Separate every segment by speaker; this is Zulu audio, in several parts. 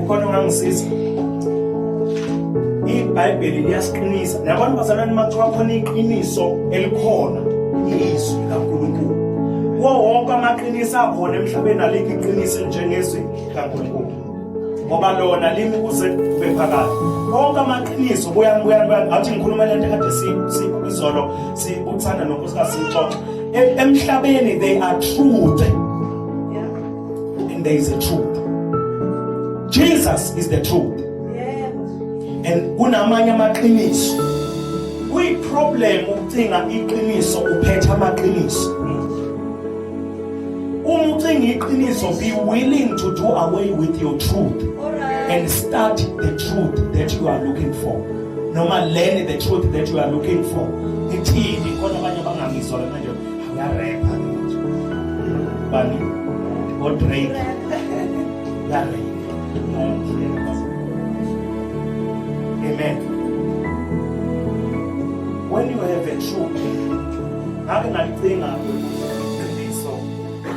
Speaker 1: ukhona ongangisiza ibhayibheli liyasiqinisa nabantu bazalwane mathiwa khona iqiniso elikhona izwi likankulunkulu kuwo wonke amaqiniso akhona emhlabeni alikho iqiniso njengezwi likankulunkulu ngoba lona limi kuze kube phakade konke amaqiniso buyangathi ngikhuluma le nto kade izolo sikuthanda nonkosikazi siyixoxa e, emhlabeni they are truth and there is a truth Jesus is the truth and kunamanye amaqiniso kuyi problem ukucinga iqiniso uphetha amaqiniso uma ucinga iqiniso be willing to do away with your truth and start the truth that you are looking for noma learn the truth that you are looking for ithini khona abanye abangangizwa manje Ngarepha ngithi. Bani. O Drake. Ngarepha. Amen. When you have a true ngake ngalicinga iqiniso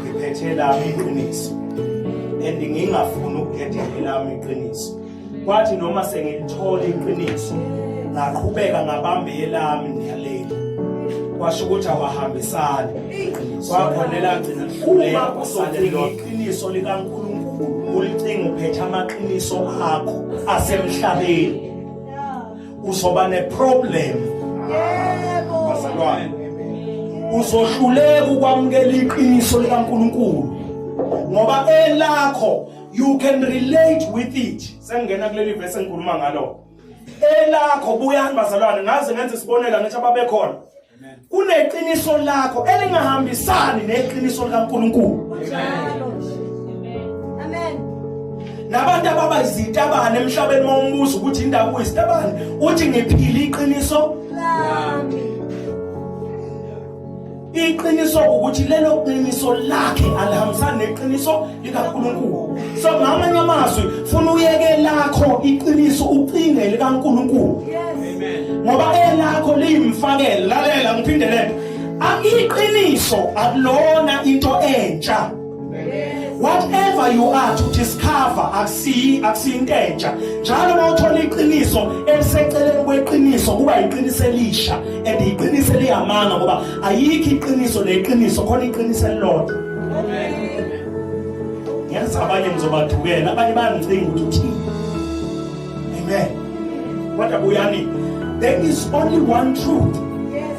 Speaker 1: ngiphethe lami iqiniso and ngingafuni ukukhetha elami iqiniso kwathi noma sengilithola iqiniso ngaqhubeka ngabambe elami ngiyaleli kwasho ukuthi awahambisani kwakhona elagcina lihluleka kusalela iqiniso likaNkulunkulu ulicinga uphethe amaqiniso akho asemhlabeni uzoba neproblem yebo bazalwane uzohluleka ukwamukela iqiniso likaNkulunkulu ngoba elakho you can relate with it sengena kuleli verse engikhuluma ngalo elakho buyani bazalwane ngaze ngenze isibonelo ngithi ababekhona kuneqiniso lakho elingahambisani neqiniso likaNkulunkulu amen nabantu ababa izitabane emhlabeni mawumbuza ukuthi indaba uyizitabane uthi ngiphila iqiniso lami Iqiniso ukuthi lelo qiniso lakhe alihambisani neqiniso likaNkulunkulu. So ngamanye amazwi funa uyeke lakho iqiniso ucinge likaNkulunkulu. Ngoba elakho liyimfakela lalela ngiphinde lento. Aqiqiniso akulona into entsha. whatever you are to discover akusiyi akusiyinto entsha njalo uma uthola iqiniso eliseceleni kweqiniso kuba yiqiniso elisha and yiqiniso eliyamanga ngoba ayikho iqiniso neqiniso khona iqiniso elilodwa ngenza abanye ngizobadukela abanye bayangicinga ukuthi uthini amen kodwa buyani there is only one truth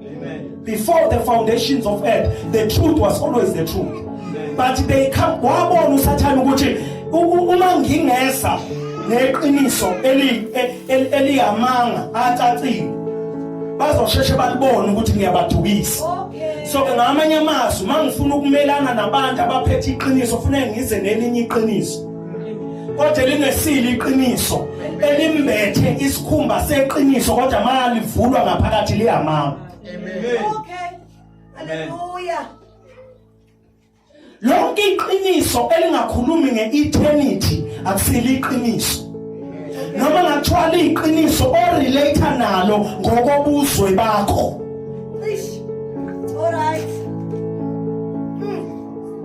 Speaker 1: Amen. Before the foundations of earth, the truth was always the truth. Amen. But they come wabona uSathane ukuthi uma ngingeza neqiniso eli eliyamanga acacile bazosheshe balibone ukuthi ngiyabadukisa. Okay. So ke ngamanye amazwi mangifuna ukumelana nabantu abaphethe iqiniso kufanele ngize nelinye iqiniso. kodwa elingesile iqiniso elimbethe isikhumba seqiniso kodwa malivulwa ngaphakathi liyamanga amen okay haleluya lonke iqiniso elingakhulumi ngeeternity akusile iqiniso noma ngathiwa liyiqiniso orelate nalo ngokobuzwe bakho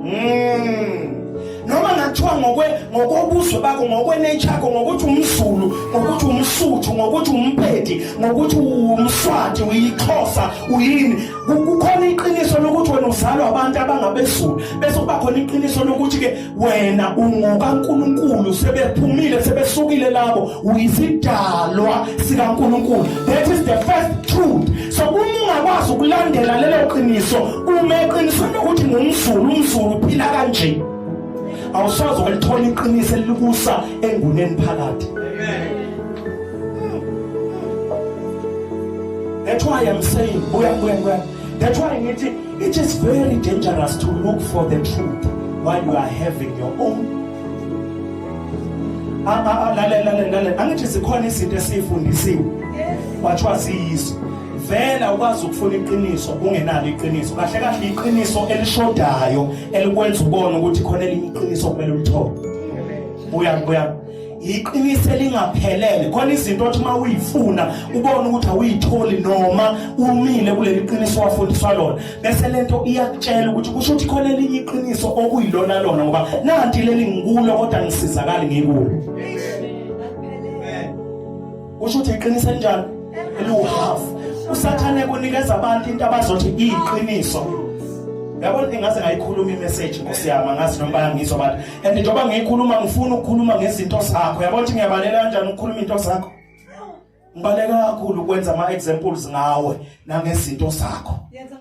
Speaker 1: Mm. noma ngathiwa ngokwe ngokobuzwe bakho ngokwenature yakho ngokuthi umzulu ngokuthi umsuthu ngokuthi umpedi ngokuthi umswati uyixhosa uyini kukhona iqiniso lokuthi wena uzalwa abantu abangabezulu bese kuba khona iqiniso lokuthi ke wena ungokaNkuluNkulu sebephumile sebesukile labo uyisidalwa sikaNkuluNkulu that is the first truth so uma ungakwazi ukulandela lelo qiniso uma eqinisweni lokuthi ngumzulu umzulu uphila kanje awusoze walithola iqiniso elikusa enguneni phakathi that's why i'm saying buya buya buya that's why ngithi it is very dangerous to look for the truth while you are having your own lalela lalela angithi zikhona izinto esiyifundisiwe kwathiwa siyizo vela ukwazi ukufuna iqiniso ungenalo iqiniso kahle kahle iqiniso elishodayo elikwenza ubone ukuthi khona elinye iqiniso kumele ulithole buya buya iqiniso elingaphelele khona izinto othi uma uyifuna ubone ukuthi awuyitholi noma umile kuleli qiniso wafundiswa lona bese lento iyakutshela ukuthi kusho ukuthi khona elinye iqiniso okuyilona lona ngoba nanti leli ngikulo kodwa ngisizakali ngikulo kusho ukuthi iqiniso enjani eliwuhalf usathane kunikeza abantu into abazothi iyiqiniso yabona ingaze ngayikhuluma imessage nkosi yami angazi noma bayangizwa abantu and njengoba ngiyikhuluma ngifuna ukukhuluma ngezinto zakho yabona ukuthi ngiyabalela kanjani ukukhuluma into zakho ngibaleka kakhulu ukwenza ama examples ngawe nangezinto zakho